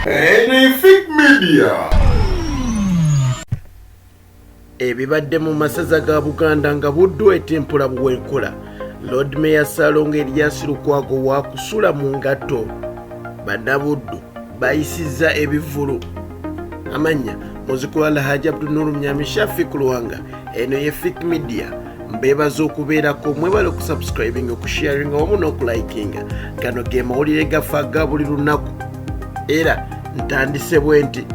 Anything Media ebibadde mu masaza ga buganda nga buddu etimpula buwenkula lord mayor salonga elias lukwago wakusula mu ngatto bannabuddu bayisizza ebivulu amannya muzikulu alhaji abdunuru myami shafi kulwanga eno ye fik media mbeebaza okubeerako mwebale okusubscribinga okusharinga wamu n'okulikinga gano ge mawulire gafa ga buli lunaku era ntandise bwe nti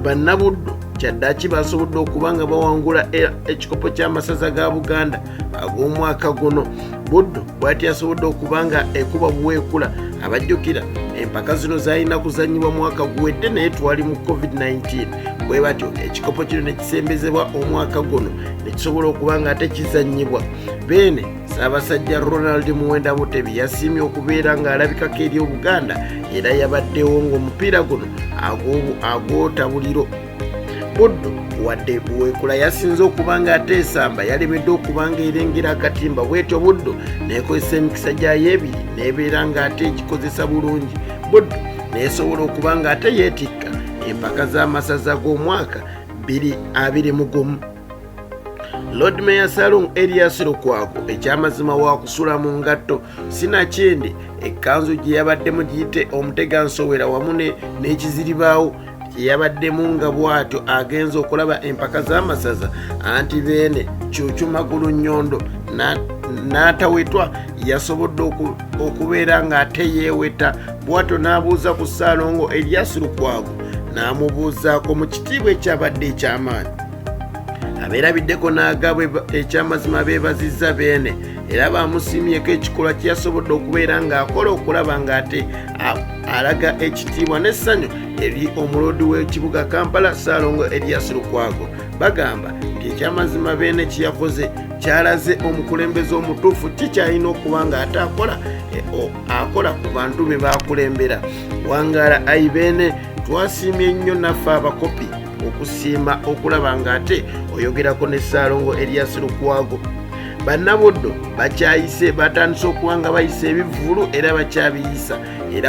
bannabuddu kyaddaki basobodde okuba nga bawangula e, ekikopo ky'amasaza ga buganda ag'omwaka guno buddu bwati asobodde okuba nga ekuba buweekula abajjukira empaka zino zalina kuzanyibwa mwaka guwedde naye twali mu covid-19 bwe batyo ekikopo kino ne kisembezebwa omwaka guno nekisobola okuba nga ate kizanyibwa beene ssaabasajja ronald muwenda mutebi yasiimye okubeera ng'alabikako eri obuganda era yabaddewo ng'omupiira guno agwotabuliro buddu wadde buweekula yasinze okuba ng'ate esamba yalemedde okuba ng'erengera akatimba bwetyo buddu neekozesa emikisa gyayo ebiri neebeera ng'ate egikozesa bulungi buddu neesobola okuba ng'ate yeetikka empaka z'amasaza g'omwaka biri abiri mu gumu lord mayor salung elias lukwago ekyamazima wakusula mu ngatto sinakindi ekkanzu gye yabaddemu giyite omutega nsowera wamu n'ekiziribaawo gye yabaddemu nga bwatyo agenza okulaba empaka z'amasaza anti beene kyukyumagulu nnyondo n'atawetwa yasobodde okubeera ng'ate yeeweta bwatyo n'abuuza ku ssaalongo elias lukwago n'amubuuzaako mu kitiibwa ekyabadde eky'amaanyi abeerabiddeko n'agabwe ekyamazima beebazizza beene era baamusiimyeko ekikolwa kye yasobodde okubeera ng'akola okulaba ng'ate alaga ekitiibwa n'essanyu eri omuloodi w'ekibuga kampala saalongo elias lukwago bagamba nti ekyamazima beene kye yakoze kyalaze omukulembeze omutuufu kikyalina okuba ng'ate akola e, akola ku bantu be baakulembera wangaala ayi beene twasiimye nnyo naffe abakopi okusiima okulaba ng'ate oyogerako ne ssaalongo eriyasi lukwago bannabuddo bakyayise batandise okuba nga bayisa ebivvulu era bakyabiyisa era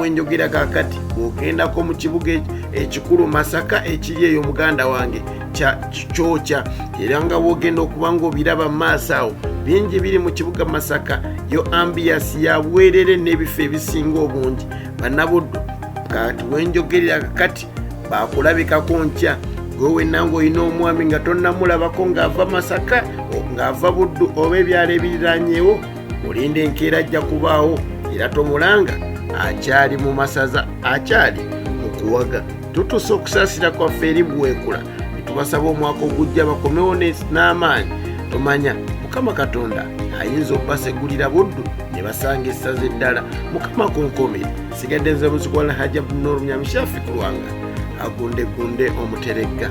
wenjogera kakati bwogendako mu kibuga ekikulu masaka ekiri eyo muganda wange kikyoca era nga wogenda okuba nga obiraba maaso awo bingi biri mu kibuga masaka yo ambiyasi ya bwerere n'ebifo ebisinga obungi banabuddu kati wenjogerera kakati bakulabikako nkya gwe wenna ngaolina omwami nga tonnamulabako ng'ava masaka ng'ava buddu oba ebyalo ebiriranyewo olinda enkeera ajja kubaawo era tomulanga akyali mu masaza akyali mu kuwaga tutuusa okusaasira kwaffe eri buweekula netubasaba omwaka ogujja bakomewo n'amaanyi tomanya mukama katonda ayinza okubasegulira buddu ne basanga essaza eddala mukama kunkomi sigadde nze muzikwa lhaja bnor myamishafi kulwanga agundegunde omuteregga